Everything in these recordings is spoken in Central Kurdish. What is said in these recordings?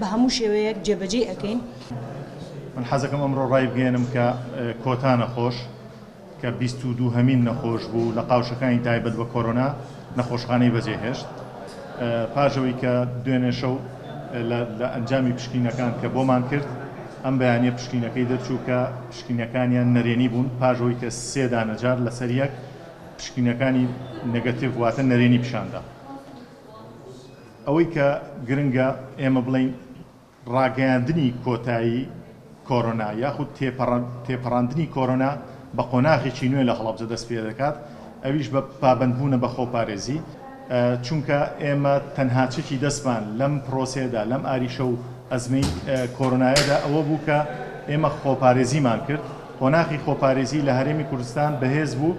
بە هەموو شێوەیەک جێبەجێی ئەکەین. من حەزەکەم ئەمڕۆ ڕایبگەیەنم کە کۆتا نەخۆش کە بیست و دوو هەمین نەخۆش بوو لە قاوشەکانی تایبەت بە کۆرۆنا نەخۆشخانەی بەجێهێشت پاش ئەوەی کە دوێنێ شەو لە ئەنجامی پشکینەکان کە بۆمان کرد ئەم بەیانیە پشکینەکەی دەرچوو کە پشکینەکانیان نەرێنی بوون پاش ئەوەی کە سێ دانەجار لەسەر یەک پشکینەکانی نەگەتیڤ واتە نەرێنی پیشاندا. ئەوەی کە گرنگە ئێمە بڵێین ڕاگەیاندنی کۆتایی کۆرۆنا یاخود تێپەڕاندنی کۆرۆنا بە قۆناغێکی نوێ لە هەڵەبجە دەست پێ دەکات، ئەویش بە پابەندبوونە بە خۆپارێزی، چونکە ئێمە تەنها چەکی دەستمان لەم پرۆسەیەدا، لەم ئاریشە و ئەزمەی کۆرۆنایەدا ئەوە بوو کە ئێمە خۆپارێزیمان کرد، قۆناغی خۆپارێزی لە هەرێمی کوردستان بەهێز بوو.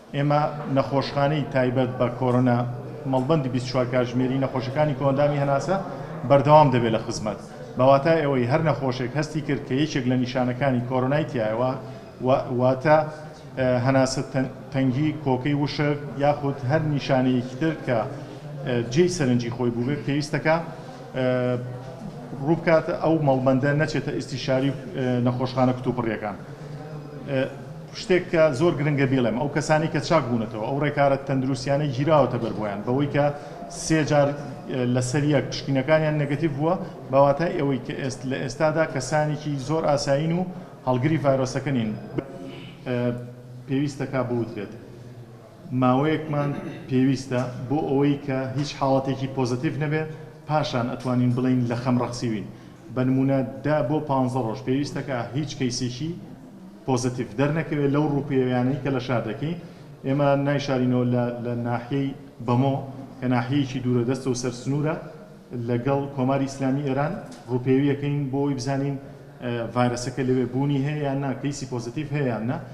ئێمە نەخۆشخانەی تایبەت بە کۆرۆنا مەڵبەندی بیست و چوار کاتژمێری نەخۆشەکانی کۆئەندامی هەناسە بەردەوام دەبێت لە خزمەت، بە واتای ئەوەی هەر نەخۆشێک هەستی کرد کە یەکێک لە نیشانەکانی کۆرۆنای تیایە واتە هەناسە تەنگی، کۆکەی وشک یاخود هەر نیشانەیەکی تر کە جێی سەرنجی خۆی بووبێت پێویستە کە ڕووبکات ئەو مەڵبەندە نەچێتە ئیستیشاری نەخۆشخانە کتوپڕیەکان. شتێک کە زۆر گرنگە بیڵێم، ئەو کەسانەی کە چاک بوونەتەوە، ئەو ڕێکارە تەندروستییانەی گیراوەتە بەر بۆیان، بەوەی کە سێ جار لەسەر یەک پشکینەکانیان نێگەتیڤ بووە، بە واتای ئەوەی کە لە ئێستادا کەسانێکی زۆر ئاسایین و هەڵگری ڤایرۆسەکە نین، پێویستە کە بوترێت ماوەیەکمان پێویستە بۆ ئەوەی کە هیچ حاڵەتێکی پۆزەتیڤ نەبێت، پاشان ئەتوانین بڵێین لە خەم ڕەخسیوین، بە نموونە دە بۆ پانزە ڕۆژ پێویستە کە هیچ کەیسێکی. پۆزەتیڤ دەرنەکەوێت لەو ڕووپێویانەی کە لە شار دەکەین ئێمە نایشارینەوە لە لە ناحیەی بەمۆ کە ناحیەیەکی دوورە دەستە و سەر سنوورە لەگەڵ کۆماری ئیسلامی ئێران ڕووپێویەکەین بۆ ئەوی بزانین ڤایرەسەکە لەوێ بوونی هەیە یان نا کەیسی پۆزەتیڤ هەیە یان نا